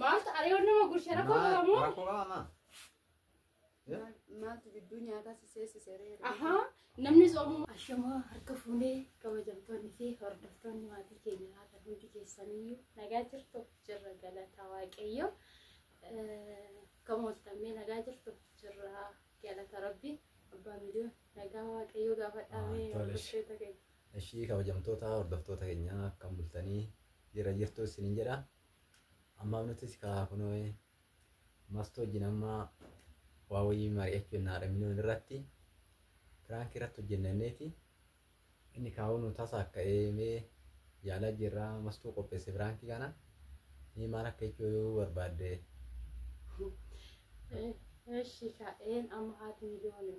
Maaltu aree wanna ma gurshe rakkoo Maal- qabamu? Rakkoo qaba maa? Maal- Maaltu gidduu nyaataa si seesise ree? Ahaa namni soomuu. Ashamaa harka fuunee kabajamtoonni fi hordoftoonni maatii keenya haadha hundi keessanii nagaa jirtu jirra galata waaqayyo. Kan mooltammee nagaa jirtu jirra galata rabbi. Abbaa miiliyoon nagaa waaqayyo gaafadhaamee Ah, tolesh. hordoftoota keenya. Ishii kabajamtoota hordoftoota keenyaa akkam bultanii jira jirtu isiniin jedha. Ammaaf nutis kaa kunoo mastu wajjin amma waa wayii mari'achuu hin haadha minoon irratti piraank irratti hojjenneeti inni kaa'uu nu tasa akka eemee yaalaa jirra mastuu qopheesse piraankii kana mee maal akka jechuu yoo barbaadde Eshi ka en ama hati milioni.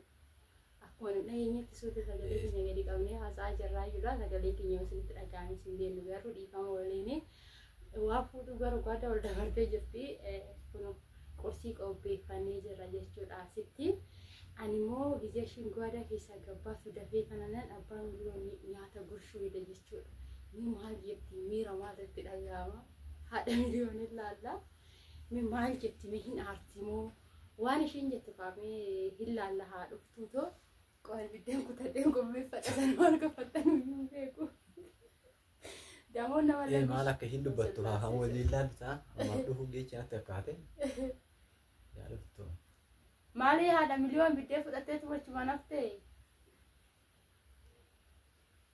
Akkuma nu dhageenyetti suurri sagalee keenya gadi qabnee haasa'aa jirraayyuudha. Sagalee keenya yoo isinitti dhaga'ame isin beellu garuu dhiifama waliin waa fuudhuu barbaada wal dabartee jirti. Kun qorsii qopheeffannee jirra jechuudha asitti. Ani immoo gizee shingoodaa keessaa gabbaatu dafee kananan abbaan miliyoon nyaata gurshuu hidha jechuudha. Mee maal jetti miira maal itti dhaga'ama? Haadha miliyoon ilaalla. Mee maal jetti mee hin aarti moo Waan ishiin jettu kaamee hin laalla haa dhuftuu too qo'a ibiddeen kutadheen qopheeffadha sana maal gaffadhan hin beeku. Damoon nama Ee lammishi- maal akka hin dubbattu haa haa waliin laalta ammaa dhufuun geecha natti akkaate yaa dhuftu Maalii haadha miliyoon biddee fudhattee tumachumaan haftee?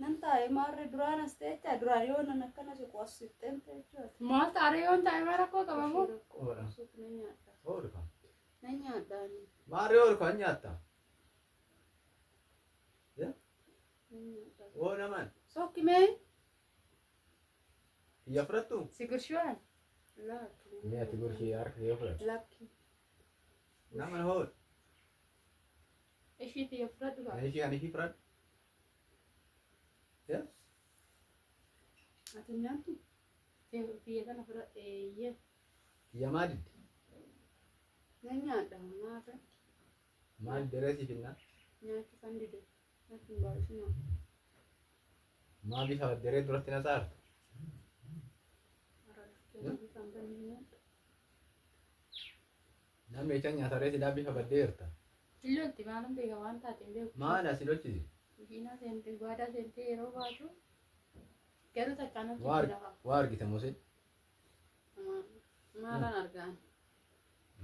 Nan taa'e maarree duraan as teecha duraan yoo nan akkana siqu as siqxeen teecha. Maal taaree yoon taa'e maal rakkoo qaba moo? Oora. Suuq nan nyaadha. Oora kan. Nan nyaadha ani. Maarree oora kan nyaatta. Nan nyaadha. Oo naman. Sookki mee? Kiyya fudhattu. Si gurshiwaan? Laatu. Mee ati gorshii harka kee fudhatu. Lakki. Naman hool. Ishii tiyya fudhadhu ba'a. Ishii ani ishii fudhadhu. Yaa? Ati nyaattu tiyya tiyya kana fudhadhe eeyyee. Kiyya maa didde? Nan nyaadha nyaata Maal diree siif hinnaa? nyaachuu kan dide. Natti hin baay'isinaa. Maa bifa diree duratti na saarta? Arabsicha kan banne nyaadha. Naan meechaan nyaata ree silaa bifa baddee jirta. Hin lolti maalan beeka waan taate hin beeku. Maala si lolchise? Diinaa seentee gwaadaa seentee yeroo baatu garuu takkaan Waa hojjetti arg- lafa. waa argite mose. Maalan argaan.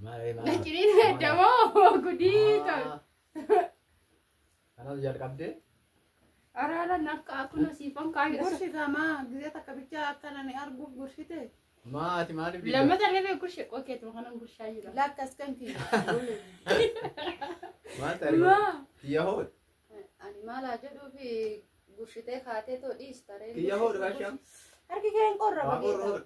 Maala ree maala. Naciriin damoo gudii tol. Kanas jalqabdee. Araara nakka akkuma siifan kaayee. Gursita maa gizee takka bichaa akkana ni arguuf gursite. Maa ati maaliif biyya? Lammata reebee gurshe qokeetu kanan gurshaa jira. Lakkas kan fi. Maal ta'e? Maa. Kiyya hood. Ani maalaa jedhuu fi gursitee kaatee too dhiista ree. Kiyya hood rashaa. Harki kee hin qorra. Waa qorra hood.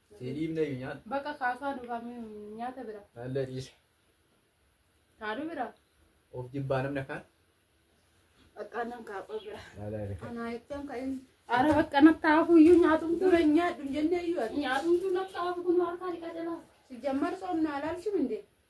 Siiliif na nyaata. Bakka kaasaa duraa nyaata bira. Nallee dhiisa. Haadhu bira. Of jibbaa namni akkaan. Bakka nan kaakoo bira. Nallee dhiisa. Anaa jechuun kan inni. Ara bakka natti haafuu iyyuu nyaatumtu. Dura hin nyaadhu hin jennee iyyuu ati. Nyaatumtu natti haafu kun harkaa dhiqaa jalaa. Sijjammar soomnaa laalchuu hin deemu.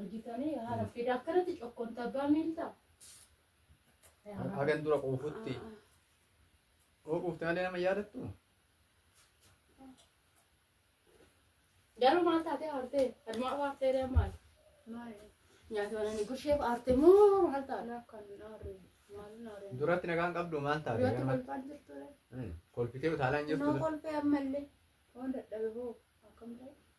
Argitanii haala fida akkanatti cokkoon tabbaa miilta. Hagan dura quufutti. Yoo quufte malee nama yaadattu. Garuu maal taatee haartee? Admaa haartee dee maal? Nyaata bananii gusheef haarte moo maal taate? Duratti nagaan qabdu maal taate? Duratti Garuu- kolfaan jirtu dee. Mm, Kolfitee utaalaa hin jirtu. Noo kolfee ammallee waan dadhabe hoo akkam ta'e?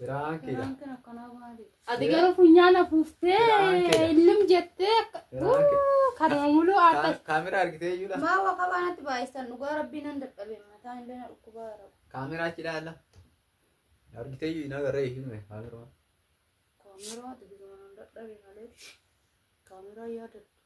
Piraankiidha. Piraankiin akkanaa maalidha? Ati garuu funyaan afuuftee Piraankiidha. illim jettee akka- Piraanki. Uu, kanuma muluu aarta. Ka- Kaameraa argitee iyyuudha. Maa waa qabaanatti baay'isan dhugaa rabbii nan dadhabe mataa illee na dhukkubaa jira. Kaameraa achi ilaalla. Argitee iyyuu hin agarree hin hime kaameraa. Kaameraa ati bira nan dadhabe malee kaameraa yaadadha.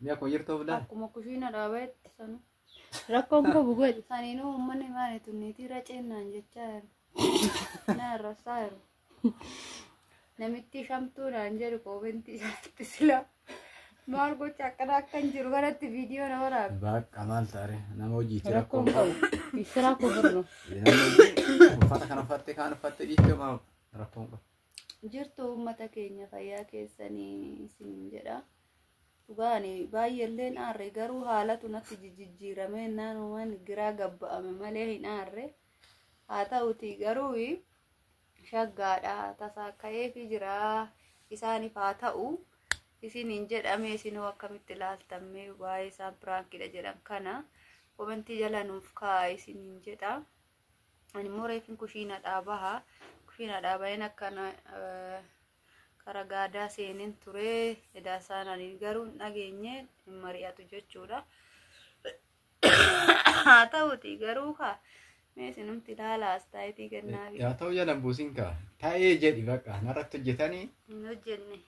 Ni akkuma jirtu of ilaalu. Akkuma kushiina dhaabaatti sanu. Rakkoon koo bugoodha. Saniinuu uummanni maali tunniitii raceennaan jechaa jiru. Na arrabsaa jiru. Namitti shamtuu naan jedhu koomentii isaatti silaa. Maal gocha akkana akkan jiru kanatti viidiyoo na waraabe. Bakka maal taare nama hojiiti rakkoo Rakkoon qabu. koo. Siraa koo birru. Namni hojii uffata kana uffatte kaan uffatte dhiiftee maaf rakkoon qabu. jirtu uummata keenya fayyaa keessanii isiniin jedha. Dhugaani baay'eelleen aarre garuu haalatu natti jijjiirame naanumaan giraa gabba'ame malee hin aarre. Haa ta'uti garuu shaggaadha tasaa ka'eefi jira isaaniif haa ta'u isiniin jedhame isinoo akkamitti ilaaltamme waa'ee isaan piraankidha jedhan kana komentii jala nuuf kaa'a isiniin jedha. Ani immoo reefin kushiinadhaa baha. Kushiinadhaa baheen akkana kara gaadaa seeneen ture. Edaa isaan ani garuu hin dhageenye hin mari'atu jechuudha. Haa ta'uti garuu kaa mee isinumti ilaalaa astaayitii kennaa fi Yaa ta'u jalan buusin kaa. Ta'ee jedhi baqa. Narratti hojjetanii. hin hojjenne.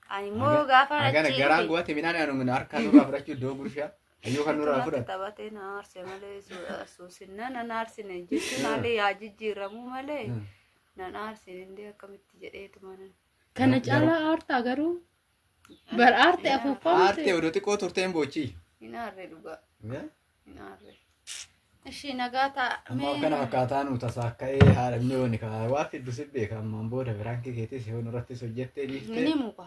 Ani immoo gaafa Agana garaa achi guwate midhaan anu min harkaa nurraa fudhachuu iddoo gurshaa. Ayyuu kan nurraa Akkanatti fudhate. taphatee na aarse malee su- suusinnaan na aarsine jechuun haalli yaa jijjiiramuu malee Mm. na aarsine indee akkamitti jedheetuma nan. Kana Garuu- caalaa aartaa garuu bar aarte Yaa, afuuffaa Aartee miti. odoo xiqqoo turteen boochii. Hin aarre dhugaa. Eh? Hin aarre. Ishii nagaa ta'a. Amma mee- akkana fakkaataa nu tasaa akka ee haadha inni yooni kaa waa fiddu si beeka ammaan booda biraankii keetis yoo nurrattis hojjettee Ni dhiiftee. muka.